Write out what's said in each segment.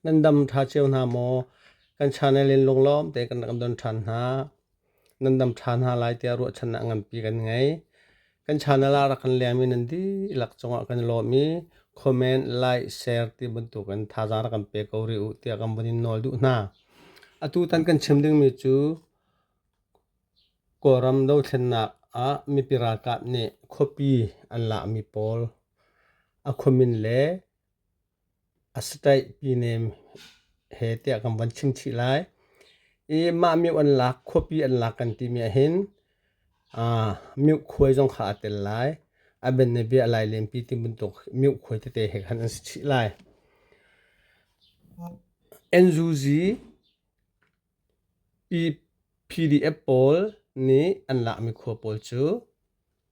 Nan dam ṭha cio hna maw? Kan channel in lunglawm tein kan don ṭhan hna. Nan dam ṭhan hna lai tiah ruahchannak nganpi kan ngei. Kan channel ah rak kan liammi nan dihlak cungah kan lawm i comment, like, share ti bantukin thazaang rak kan pe ko rih u tiah kan vun in nawl duh hna. Atutan kan chim dingmi cu Kawlram dothlennak ah mipi ralkap nih khuapi an lakmi pawl a khuamin le Asitaih pinem he tiah kan von chimchih lai. I mah mioh an lak, khuapi an lak kan timi ahhin mioh khuai zong kha aa tel lai. A ben le bia a lailenpi ti bantuk mioh khuai tete he khan an si chih lai. NUG PDF pawl nih an lakmi khua pawl cu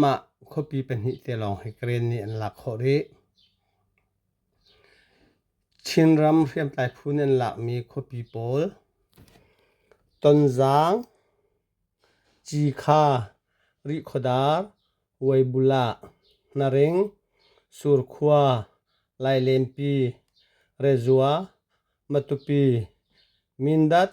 Mah khuapi pahnih te lawng hi Karen nih an lak khawh rih. Chinram hriamtlai phu nih an lakmi khuapi pawl Tonzang, Cikha, Rihkhawdar, Weibulah, Naring, Surkhua, Lailenpi, Rezua, Matupi, Mindat.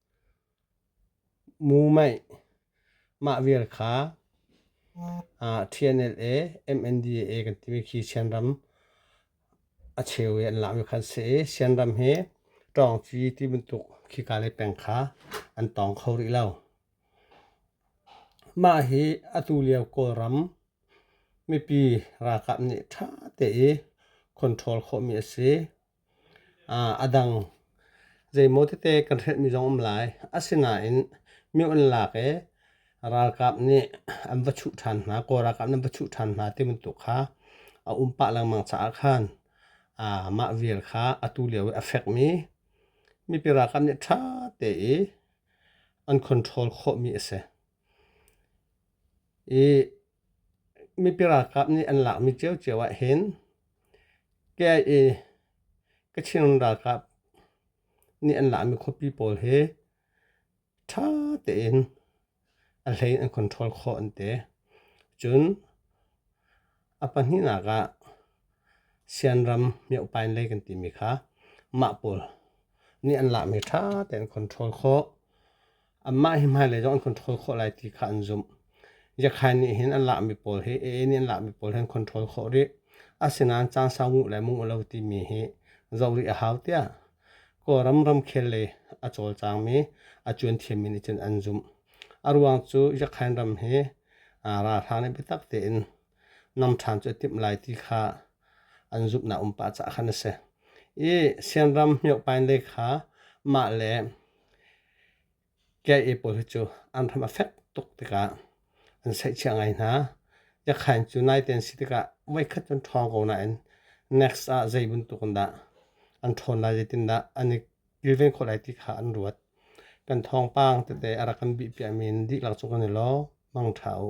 Mumeih mah vial kha TNLA MNDAA kan timi khi Sianram a cheu i an lak mi kha an si i Sianram hi ṭawngci ti bantuk khika le peng kha an tawng kho rih lo. Mah hi atu lio Kawlram mipi ralkap nih ṭha te i control khawh mi a si. A dang zeimaw tete kan hretmi zong a um lai. Asinain mi an lak i ralkap nih an va chuh ṭhan hna, Kawl ralkap nih an va chuh ṭhan hna ti bantuk kha a um pah lengmang caah khan mah vial kha atu lio i a fekmi mipi ralkap nih ṭha te i an control khawhmi a si. I Mipi ralkap nih an lakmi ciocio ahhin KIA Kachin ralkap nih an lakmi khuapi pawl hi ṭha tein a hlei an control khawh an ti. Cun a pahnihnak ah Sianram mioh pain lei kan timi kha mah pawl nih an lakmi ṭha tein an control khawh. anmah hi hmailei zong an control khawh lai ti kha an zumh. Yakhai nih hin an lahmi pawl hi AA nih an lahmi pawl hin control khawh rih. Asinain caan sau nguh le mung a lo timi hi zoh rih a hau tiah Kawlram ramkhel lei a cawlcangmi a cuan thiammi nih cun an zumh. A ruang cu Yakhain ram hi ralhrang nih biatak tein nam ṭhan cu a timh lai ti kha an zumhnak um pah caah khan a si. I Sianram Myohpain lei kha mah le Kyae pawl hi cu an ram a fek tuk tikah an saihchia ngai hna. Yakhain cu naite an si tikah voikhat cu an ṭhawng ko nain next ah zei bantuk in dah an ṭhawn lai zeitindah an i kilven khawh lai ti kha an ruat. Kan thawngpang tete a rak kan bih piakmi in dihlak cu kan i lawm. Mang ṭha u.